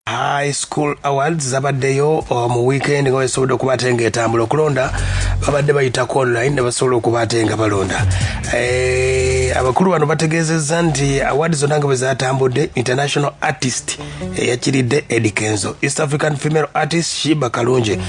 high school awards zabaddeyo uh, mu weekend nga wesobodde okuba ate nga etambula okulonda babadde bayitako online ne basobola okuba ate nga balonda eh, abakulu bano bategeezezza nti award zonna nga bwe zatambudde international artist eyakiridde eh, edi kenzo east african female artist shiba kalungi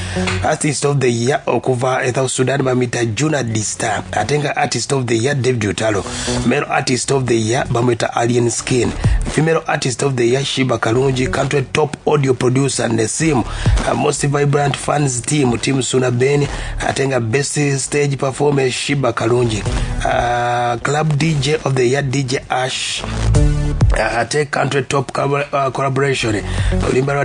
artist of the year okuva e south sudan bamita juna dista ate nga artist of the year david utalo male artist of the year bamwita alien skin female artist of the year shiba kalungi country top audio producer nesim uh, most vibrant fans team team suna ben ate nga best stage performance shiba kalungi uh, club dj of the year dj ash uh, ate country top uh, collaboration olimba lwa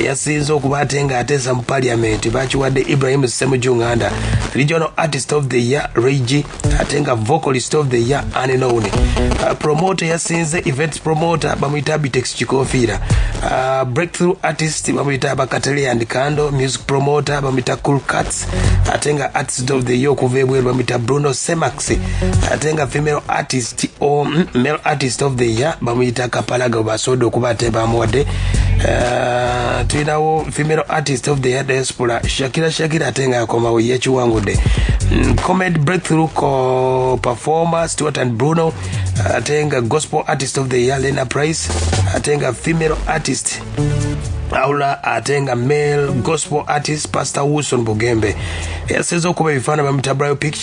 eyasinze okuba ate nga ateesa mu paliamenti bakiwadde ibrahim semuju nganda regional artist of the year regi ate nga vocalist of the year anenown uh, promoter yasinze events promoter bamuyita bitex kikofiira uh, breakthrough artist bamuyita bakatele and cando music promoter bamuyita cool cats ate nga artist of the year okuva ebweru bamuyita bruno semax ate nga female artist o mm, male artist of the year bamuyita kapalaga basoda okuba ate bamuwadde eh, tulinawo female artist of the year diaspora shakira shakira ate nga akomawo yekiwangudde mm, comed breakthrough co performer stewart and bruno ate nga gospel artist of the year lena price ate nga female artist aula ate nga male gospel artist pastor wilson bugembe yaseza okuba ebifaana bamutabulayo picture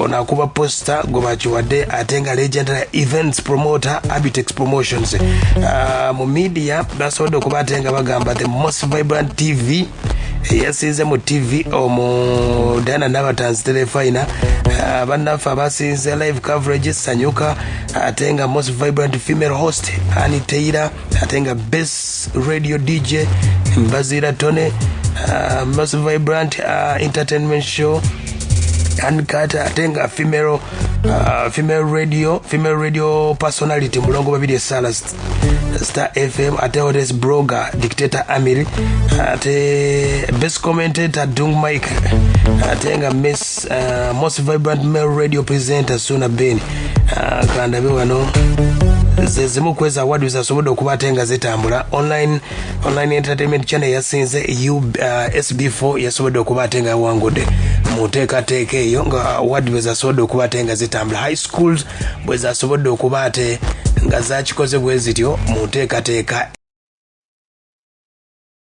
ono akuba posta gwe bakiwadde ate nga legenda ya events promoter abitex promotions uh, mu media basobodde okuba ate nga bagamba the most vibrant tv eyasinze mu tv omu dana nabatanzi telefina uh, bannaffe abasinze live coverage sanyuka ate nga most vibrant female host ani teira ate nga best radio dj mbazira tone uh, mas vibrant uh, entertainment show ankata ate nga female uh, female radio female radio personality mulongo babiri esala star fm ate otes broger dictator amiri ate best commentator dung mike ate nga miss Uh, most vibrant male radio presenter suna ben uh, kandabe wano zezimu kweza award zasobodde okuba ate nga zitambula online, online entertainment channel yasinze u uh, sb4 yasobodde okuba ate nga yawangudde mu nteekateeka eyo nga award bwezasobodde okuba ate nga zitambula high schools bwezasobodde okuba ate nga zakikoze bwe zityo mu nteekateeka